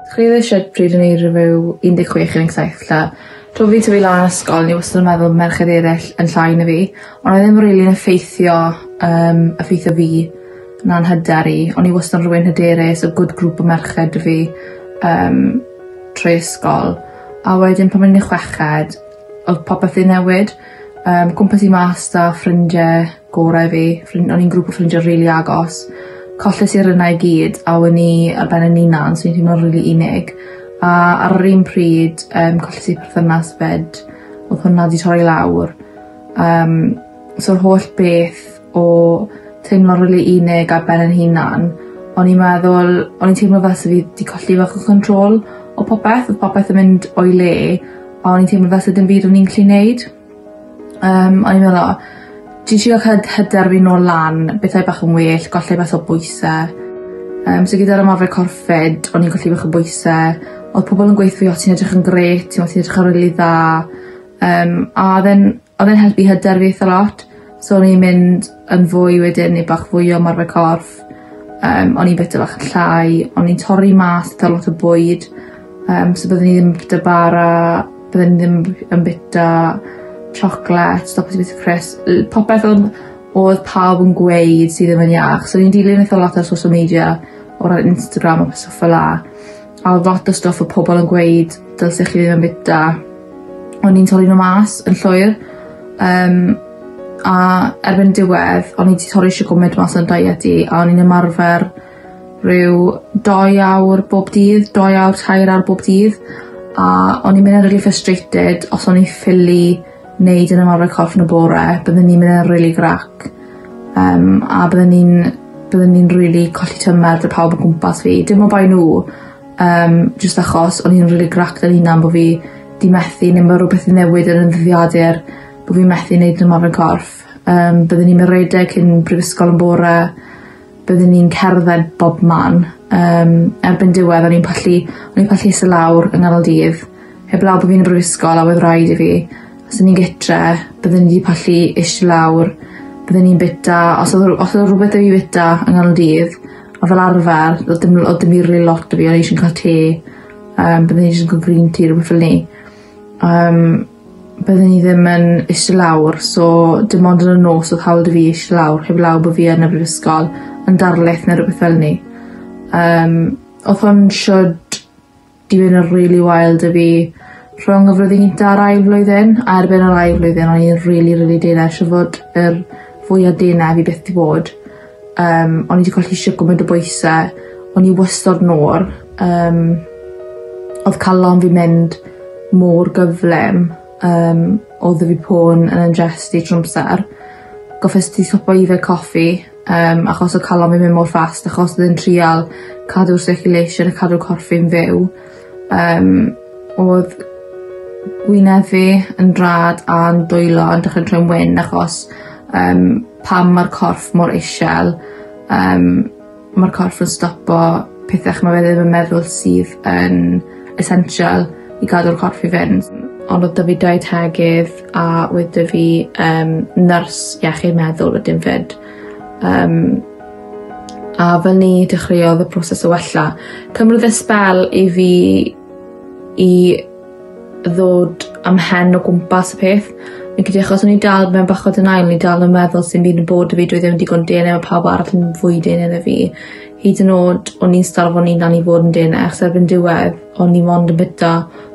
Chwe oed shwt pryd o'n i ryfew un deg chwech un deg saith 'lla. Tra fi'n tyfu lan ysgol o'n i wastad yn meddwl merched eryll yn llai na fi. On' odd e ddim rili'n effeithio yym effeithio fi na'n hyder i. O'n i wastad rywun hyderus a good group o merched 'da fi yym trwy ysgol. A wedyn pan o'n i'n y chweched odd popeth 'di newid yym gwmpas i mas 'da ffrindie gorau fi. Ffrin- o'n i'n grŵp o ffrindie rili agos. Colles i rynna i gyd a wen i ar ben yn 'unan so o'n i'n teimlo rili unig. A ar yr un pryd yym colles i perthynas 'fyd. Odd hwnna 'di torri lawr. Yym so'r holl beth o teimlo rili unig ar ben 'yn hunan o'n i'n meddwl o'n i'n teimlo fel se fi 'di colli bach o control o popeth. Odd popeth yn mynd o'i le a o'n i'n teimlo fel se dim byd o'n i'n gallu neud. Yym o'n i'n meddwl o ti isio hyd- hyder fi nôl lan bethau bach yn well gollai bach o bwyse. Yym so gyda'r ymarfer corffed o'n i'n colli bach o bwyse odd pobol yn gweutho fi o ti'n edrych yn grêt t'mo' ti'n edrych yn rili dda yym a odd e'n odd e'n helpu hyder fi itha lot. So o'n i'n mynd yn fwy wedyn ne' bach fwy o ymarfer corff yym o'n i'n bita bach yn llai o'n i'n torri mas ca'l lot o bwyd yym so byddwn i ddim bita bara byddwn i ddim b- yn bita tsiocled stop o bita crisps yy popeth odd odd pawb yn gweud sy ddim yn iach so o'n i'n dilyn eitha lot ar social media o ran Instagram a petha ffel 'a. A odd lot o stwff o' pobol yn gweud dylse chi ddim bita o'n i'n torri n'w mas yn llwyr yym a erbyn diwedd o'n i 'di torri shwd gwment mas o'n diet i a o'n i'n ymarfer ryw dou awr bob dydd dou awr tair awr bob dydd a o'n i'n myn' yn rili frustrated os o'n i ffili neu dwi'n ymarfer corff yn y bore bydden ni'n myn' yn rili grac yym a bydden ni'n bydden ni'n rili colli tymer 'da pawb o gwmpas fi dim on' bai n'w yym jyst achos o'n i'n rili grac fy hunan bo' fi 'di methu ne' ma' rwbeth 'di newid yn 'yn dyddiadur bo' fi methu neud ymarfer corff yym byddwn i'n ma' redeg cyn prifysgol yn bore byddwn ni'n cerdded bob man yym erbyn diwedd o'n i'n pallu o'n i'n pallu iste lawr yng nghanol dydd heblaw bo' fi'n y brifysgol a wedd raid i fi os o'n i'n gytre byddwn i 'di pallu ishte lawr bydden i'n bita os odd o- os odd o' rwbeth 'da fi fita yng nghanol dydd a fel arfer odd dim l- odd dim rili lot 'da fi o'n i jys yn ca'l te yym byddwn i jyst yn ca'l green tea rwbeth fel 'ny. Yym byddwn i ddim yn iste lawr so dim ond yn y nos odd hawl 'dy fi ish lawr heblaw bo' fi yn y brifysgol yn darlith ne' rwbeth fel 'ny. Yym odd hwn shwd i fyn' yn rili wael 'dy fi rhwng y flwyddyn gynta a'r ail flwyddyn a erbyn yr ail flwyddyn o'n i'n rili rili deall shwd fod yr fwya dene fi byth 'di bod. Yym o'n i 'di colli shwd gwmint o bwyse. O'n i wastod mor yym odd calon fi mynd mor gyflym yym odd 'dy fi pon yn 'yn jyst i trw amsar. Goffes ti stopo yfed coffi yym achos o' calon fi myn' mor fast achos odd e'n trial cadw'r circulation a cadw corff fi'n fyw. Yym odd gwyneb fi yn rhad a'n dwylo yn dechre troi'n wyn achos yym pan ma'r corff mor ishel yym ma'r corff yn stopo pethe ch'mo' fe ddim yn meddwl sydd yn essential i gadw'r corff i fynd. Ond odd 'dy fi dau tegid a oedd 'dy fi yym nyrs iechyd meddwl wedyn 'fyd. Yym. A fel ni dechreuodd y proses o wella, cymryd e sbel i fi i ddod a'm mhen o gwmpas y peth. Fi'n credu achos o'n i dal mewn bach o denial o'n i dal yn meddwl sim byd yn bod 'da fi dwi ddim yn digon dene ma' pawb arall yn fwy dene na fi. Hyd yn o'd o'n i'n o'n i'n dal i fod yn dene achos erbyn diwedd o'n i mond yn bita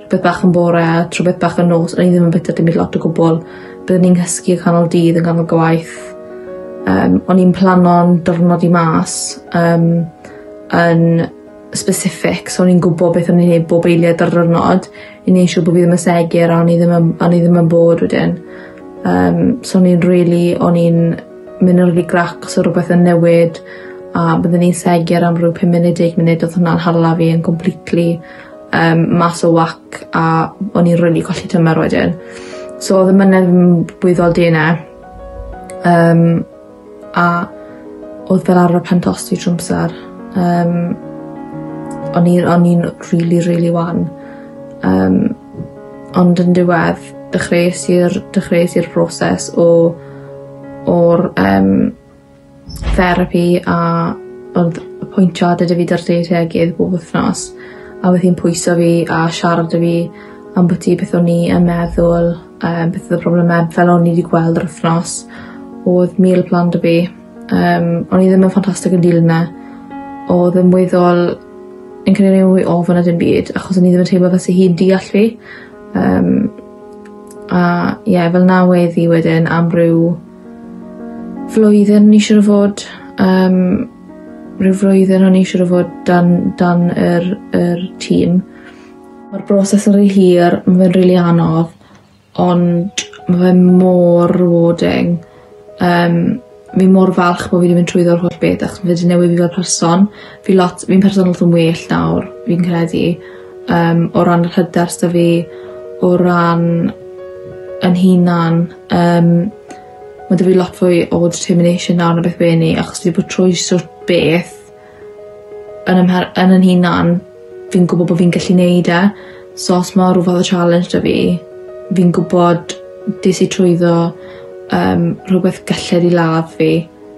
beth bach yn bore a tra beth bach yn nos o'n i ddim yn bita dim byd lot o gwbwl. Byddwn i'n nghysgu y canol dydd yn ganol gwaith. Yym o'n i'n plano'n di'rnod i mas yym yn specific so o'n i'n gwbo beth o'n i neud bob eiliad dyrnod i neu' siw' bo' fi ddim yn segur a o'n i ddim yn o'n i ddim yn bored wedyn. Yym so o'n i'n rili o'n i'n myn' yn rili grac so rwbeth yn newid a byddwn i'n segur am ryw pum munud deg munud odd hwnna'n hala fi yn completely yym mas o wac a o'n i'n rili colli tymer wedyn. So odd y mynedd yn weddol dene yym a odd fel arfer pen tost fi trw amsar yym o'n i o'n i'n rili rili wan yym ond yn diwedd dechreues i'r dechreues i'r broses o o'r yym therapi a ond y pwyntio adetyfu 'da'r lle lle ag ef bob wthnos a odd hi'n pwyso fi a siarad 'da fi ambwti beth o'n i yn meddwl yym beth odd y probleme fel o'n i 'di gweld yr wthnos odd meal plan 'da fi yym o'n i ddim yn ffantastic yn dilyn e odd e'n weddol fi'n credu mwy ofon na dim byd achos o'n i ddim yn teimlo fel se hi'n deall fi yym a ie fel 'na wedd 'i wedyn am ryw Flwyddyn ni siŵr o fod yym rhyw flwyddyn o'n i siŵr o fod dan dan yr yr tîm. Ma'r broses yn ry hir ma' fe'n rili anodd ond ma' fe mor rewarding yym fi mor falch bo' fi 'di mynd trwyddo'r holl beth achos ma' fe 'di newid fi fel person. Fi lot fi'n person lot yn well nawr fi'n credu yym o ran yr hyder s'da fi o ran 'yn hunan Yym ma' 'da fi lot fwy o determination nawr na beth by' eni achos fi 'di bod trwy stwff beth yn 'y mher- yn 'yn hunan fi'n gwbo bo' fi'n gallu neud e so os ma' rwbeth y challenge 'da fi fi'n gwbod des i trwyddo yym rhwbeth galled i ladd fi.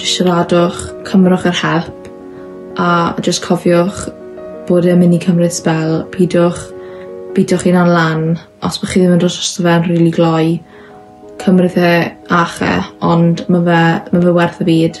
Jyst siaradwch, cymrwch yr help, a jyst cofiwch bod e'n myn' i cymryd sbel, pidwch bîtio'ch hunan lan os bo' chi ddim yn dod drosto fe'n rili gloi. Cymrith e a 'ch-e ond ma' fe ma' fe werth y byd.